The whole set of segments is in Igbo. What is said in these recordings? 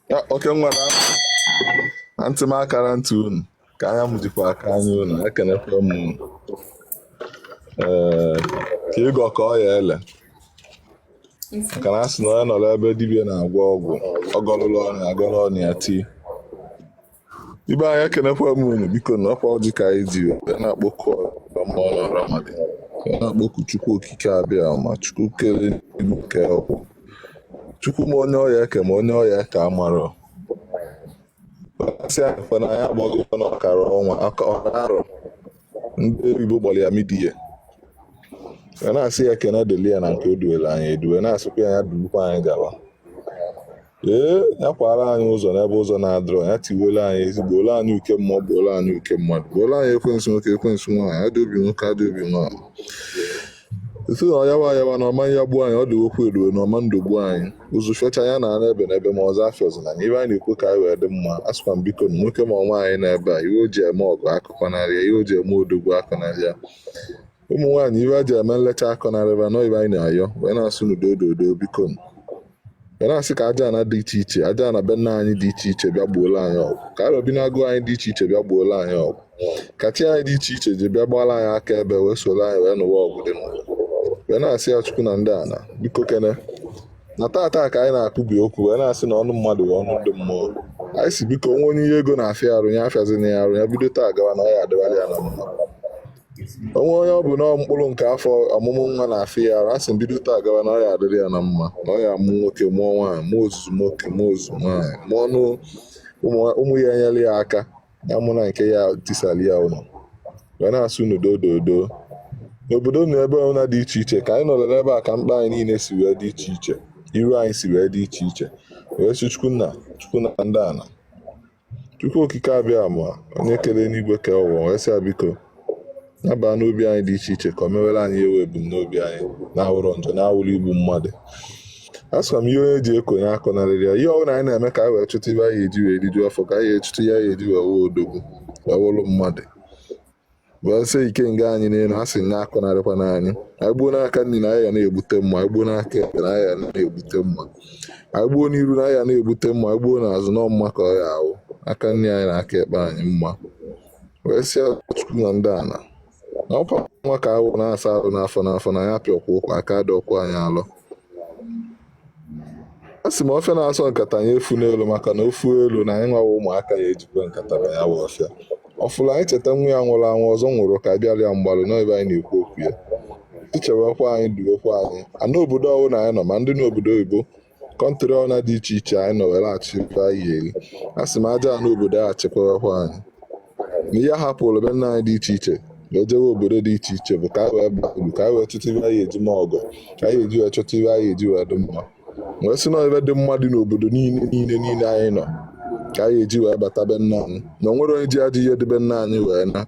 Ya oke nwa na na ntị m akarọ ntị unu ka anya m jikwa aka anya unu ekenekwa m unu ee ka anyị gọ ka ọ ya-ele maka na a sị na onye nọrọ ebe dibịa na-agwọ ọgwụ ọ gọlụla ọnya agọlụ onwe ya tii ibe anyị ekenekwa m unu biko na ọkwa ọjị ka anyị ji na-akpọku mmụọ na mmadụ na-akpọku chukwu okike abịama chukwu kere ilu nke ọkwụ chukwu ma onye ọ ya-eke ma onye ọ ya-eke amarọ a sị akpa na anyị agbagokwa na ọkara ọnwa ọkara arọ ndị oyibo gbara ya mid year na-asị ya ekene dịli ya na nke o duwere anyị eduwe na-asịkwa ya ya dulukwa anyị gawa ee ya kwara anyị ụzọ n'ebe ụzọ na-adịrọ ya tiwere anyị ezi gboolu anyị uke mmụọ gboolu anyị uke mmadụ gboolu anyị ekwensu nwoke ekwensu nwaanyị ajọ obi nwoke ajọ obi nwaanyị sị na ọyawa ayawa na ọ ma ya-egbu anyị ọ dị okwu eruo na ọma ndụ gbuo anyị ụzụ fiocha ya na ana ebe na ebe ma ụzụ afịọzina anyị ihe anyị na-ekwu ka anyị wee dị mma a sịkwa m biko na nwoke ma nwaanyị na ebe a ihe o ji eme ọgụ akọnarịa ihe o ji eme odogwu akọnarịa ụmụ nwaanyị ihe a ji eme nlecha akọnarị va na ọ ihe anyị na-ayọ wee na-asị n'udo ododo biko wee na-asị ka aja ana dị iche iche aja ana be nna anyị dị iche iche bịa gboolu anyị ọgụ ka arọ bi n'agụ anyị dị iche iche bịa gboolu anyị ọgụ ka chi anyị dị iche iche ji bịa gbaalụ anyị akaebe wee soro anyị wee nụwa ọgụ dị n'ụwa wee na-asị ya chukwu na ndị ana biko kene na tata ka anyị na-akụbi okwu wee na-asị na ọnụ mmadụ bụ ọnụ ndị mmụọ anyị sị biko o nwee onye ihe ego na-afịa arụ ya afịazina ya arụ ya bido taa gawa na ọ ya adịwalụ ya na mma o nwee onye ọ bụ na mkpụrụ nke afọ ọmụmụ nwa na-afịa ya arụ a sị m bido taa gawa na ọ ya adịrị ya na mma na ọ ya amụ nwoke mụọ nwaanyị mụọ ozuzu nwoke mụọ ozuzu nwaanyị mụọ ọnụ ụmụ ụmụ ya enyere ya aka ya amụna nke ya-etisara ya ụlọ wee na-asị n'udo dodo n'obodo na ebe ọbụla dị iche iche ka anyị nọrọ n'ebe a ka mkpa anyị niile si wee dị iche iche iru anyị si wee dị iche iche wee sị chukwu nna chukwu na ndị ana Chukwu okike abịama onye kere enigwe kee ụwa wee sị biko nabaa n'obi anyị dị iche iche ka o mewere anyị ebe ebumnobi anyị na-awụrọ njọ na-awụrọ igbu mmadụ a sịkwa m ihe onye ji ekonye akọnarịrị ya ihe ọ bụla anyị na-eme ka anyị wee chụta ihe anyị eji wee rijuo afọ ka anyị echụta ya ya eji wee wee odogwu wee wụrụ mmadụ gbasie ikenga anyị n'elu a sị na akọnarịkwana anyị anyị gbuo n'aka nri na anyị ga na-egbute mma anyị gbuo n'aka ekpe na anyị ga na-egbute mma anyị gbuo n'iru na anyị ga na-egbute mma anyị gbuo n'azụ na mma ka ọ ya-awụ aka nri anyị na aka ekpe anyị mma wee sị ya chukwu na ndị ana na ọkwa nwa ka anyị wụ na-asa arụ n'afọ n'afọ na ya pịọkwa ụkwa aka dị ọkụ anyị alọ a sị m ọfịa na-asọ nkata ya efuna elo maka na o fu elo na anyị nwawa ụmụaka ya ejikwa nkata baa ya bụ ọfịa ọ fụla anyị cheta nwa ya nwụrụ anwụ ọzọ nwụrụ ka a bịara ya mgbalụ n'ebe anyị na-ekwu okwu ya i chewekwa anyị duwekwa anyị ana obodo ọbụla anyị nọ ma ndị nọ obodo oyibo country ọna dị iche iche anyị nọ were achọkwa ihe a sị m aja ana obodo a chekwawekwa anyị na ihe anyị hapụrụ be nna anyị dị iche iche na o jewe obodo dị iche iche bụ ka anyị wee baa uru ka anyị wee chọta ihe anyị eji ma ọgọ ka anyị eji wee chọta ihe anyị eji wee dị mma wee sị na ihe dị mma dị n'obodo niile niile niile anyị nọ ka anyị eji wee bata be nna anyị na o nwere onye ji ajọ ihe dị be nna anyị wee naa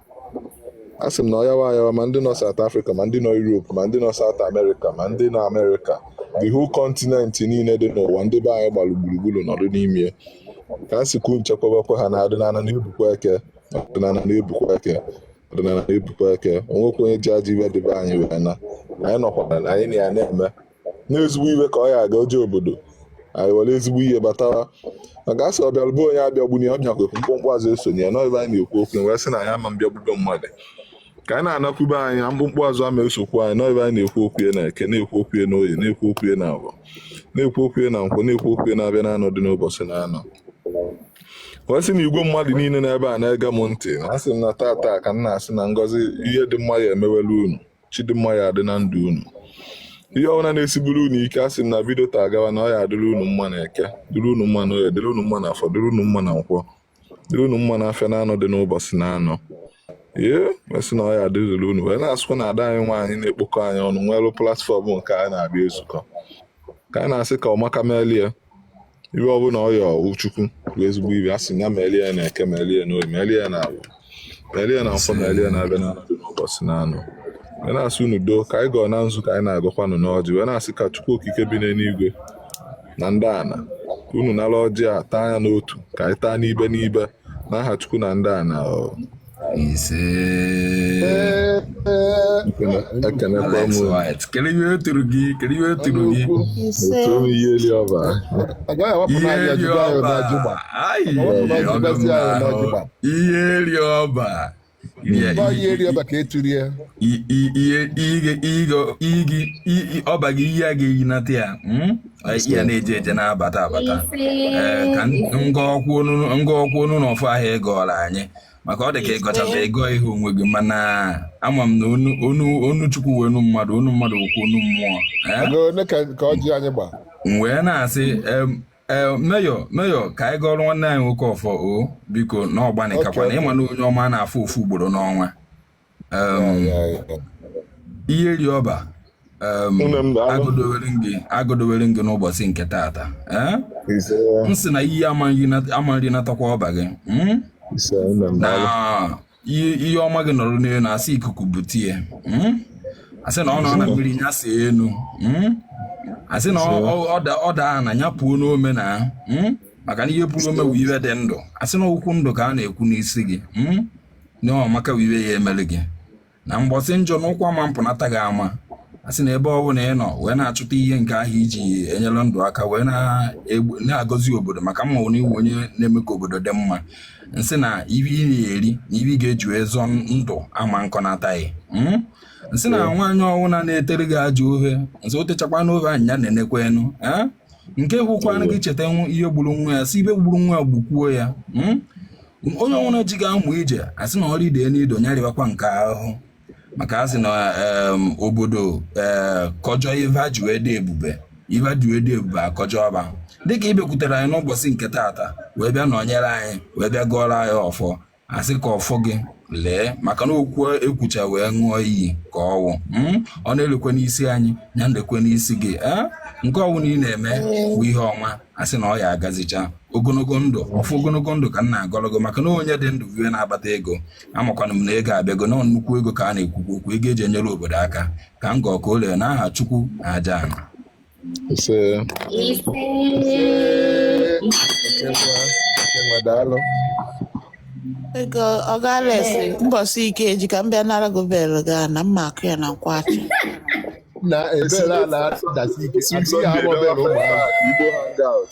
a sị m na ọyawa ayawa ma ndị nọ South Africa ma ndị nọ Europe ma ndị nọ South America ma ndị nọ America the whole continent niile dị n'ụwa ndị be anyị gbara gburugburu nọdụ n'ime ka a sịkwu nchekwabekwa ha na ọdịnala na-ebukwa eke ọdịnala na-ebukwa eke ọdịnala na-ebukwa eke o nwekwa onye ji ajọ ihe dị be anyị wee naa anyị nọkwara na anyị na ya na-eme na ezigbo ihe ka ọ ya aga o je obodo anyị were ezigbo ihe batawa maka a sị ọ bịara be onye abịagbuna ya ọ bịakwa mkpumkpu azụ esona ya n'ebe anyị na-ekwu okwu wee sị na anyị ama abịagbudo mmadụ ka anyị na-anakwu be anyị na mkpumkpu azụ ama esokwu anyị na ebe anyị na-ekwu okwu ya na eke na-ekwu okwu ya na oye na-ekwu okwu ya na afọ na-ekwu okwu ya na nkwọ na-ekwu okwu ya n'afịa na anọ dị n'ụbọchị na anọ wee sị na igwe mmadụ niile nọ ebe a na-ege m ntị na asị m na tata ka m na-asị na ngọzi ihe dị mma ya emewela unu chi dị mma ya adị na ndụ unu ihe ọbụla na-esiburu unu ike asị m na bido taa gawa na ọ ya adịrị unu mma na eke dịrị unu mma na oye dịrị unu mma na afọ dịrị unu mma na nkwọ dị unu mma n'afịa na anọ dị n'ụbọchị na anọ wee sị na ọ ya adịzụrụ unu wee na-asịkwa na ada anyị nwaanyị na-ekpokọ anyị ọnụ nwere platform nke anyị na-abịa ezukọ ka anyị na-asị ka ọmaka melie ihe ọbụla ọ yọọ Chukwu bụ ezigbo ihe a sị ya melie na eke melie na oye melie na afọ Elie na nkwọ melie n'afịa na anọ dị n'ụbọchị na anọ wee na-asị unu doo ka anyị gọọ na nzu ka anyị na-agọkwanụ n'ọjị wee na-asị ka Chukwu okike bi n'eluigwe na ndị ana ka unu nara ọjị a taa ya n'otu ka anyị taa n'ibe n'ibe n'aha Chukwu na ndị ana o. ise Ekene- ekenekwa Alex m White kedu ihe o turu gị kedu ihe o turu gị ise otu ome ihe eli ọba agaghị awapụ ihe n'anya dị jụba ya ọba n'ajụgba ayi awapụ n'anya ọgọ m jụbazi ya n'ahụ n'ajụgba ihe eri ọba ọba gị ihe a ga-eyi nata ya hmm? ya na-eje eje na-abata abata eh, ka m gọọkwu ọnụ n'ọfọ ahụ ị gọọla anyị maka ọ dị ka ị gọchata agọhie onwe gị mana ama m na ọnụ Chukwu wụ ọnụ mmadụ ọnụ mmadụ ọ wụ ọnụ mmụọ eh? wee na-asị ee meyọ meyọ ka anyị gọọrọ nwanne anyị nwoke ọfọ o biko na ọgbanikakwa na ịma na onye ọma a na-afụ ofu ugboro n'ọnwa iyi eri ọba agọdowere gị agọdowere gị n'ụbọchị nke taata eh? m sị na iyi ama nrinatakwa ọba gị hmm? na ihe ọma gị nọrọ n'elu na asị ikuku bute ya hmm? asị na ọ nọ na mmiri ya si elu hmm? asị na ọ daa na ya puo n'ome na hmm? maka na ihe puru ome wụ ive dị ndụ asị na okwu ndụ ka a na-ekwu n'isi gị na ọmaka wụ ive ya-emere gị na mgbọsị njọ na ụkwụ ama mpụnata gị ama a sị na ebe ọ bụla ị nọ wee na-achọta ihe nke ahụ iji enyere ndụ aka wee na-agọzi obodo maka mma na ị wụ onye na-eme ka obodo dị mma nsị na ive ị na-eri na ive ị ga-eji ezọ ndụ ama nkọnata ghị hmm? nsị na nwaanyị ọwụna na-etere gị ajọ ofe nsị o techakwanụ ofe anya ya na-enekwa enu eh? nke hụkwanụ gị cheta ihe gburu nwa ya sị ive gburu nwa ya gbukwuo ya hmm? onye ọwụna ji gị amụ ije asị na ọrụ ide n'ido nya rịbakwa nke ahụ maka a sị na em, obodo ee kọjọ ive e ji wee dị ebube ive e ji wee dị ebube akọjọ ọba dịka ị bịakwutere anyị n'ụbọchị nke taata wee bịa nọnyere anyị wee bịa gọọrọ anyị ọfọ asị ka ọfọ gị lee maka na okwu ekwucha wee ṅụọ iyi ka ọwụ mm? ọ na-elekwe n'isi anyị ya nlekwe n'isi gị ee nke ọwụna ị na-eme bụ ihe ọma asị na ọ ya-agazicha ogologo ndụ ọfụ ogologo ndụ ka m na-agọrọ gị maka na onye dị ndụ bụ ihe na-akpata ego amakwanụ m na ego abịago na nnukwu ego ka a na-ekwukwu okwu ego eji enyere obodo aka ka m gọọ ka o lee n'aha chukwu na aja ana ise daalụ ego ọ gaala ese mbọsị ike eji ka m bịa nara gị belu gị na mma akụ ya na nkwachi na ebere a na-adasi ike Sim adịghị Sunday agba bere n'ọba ụmụ ahụ. Igbo hangout.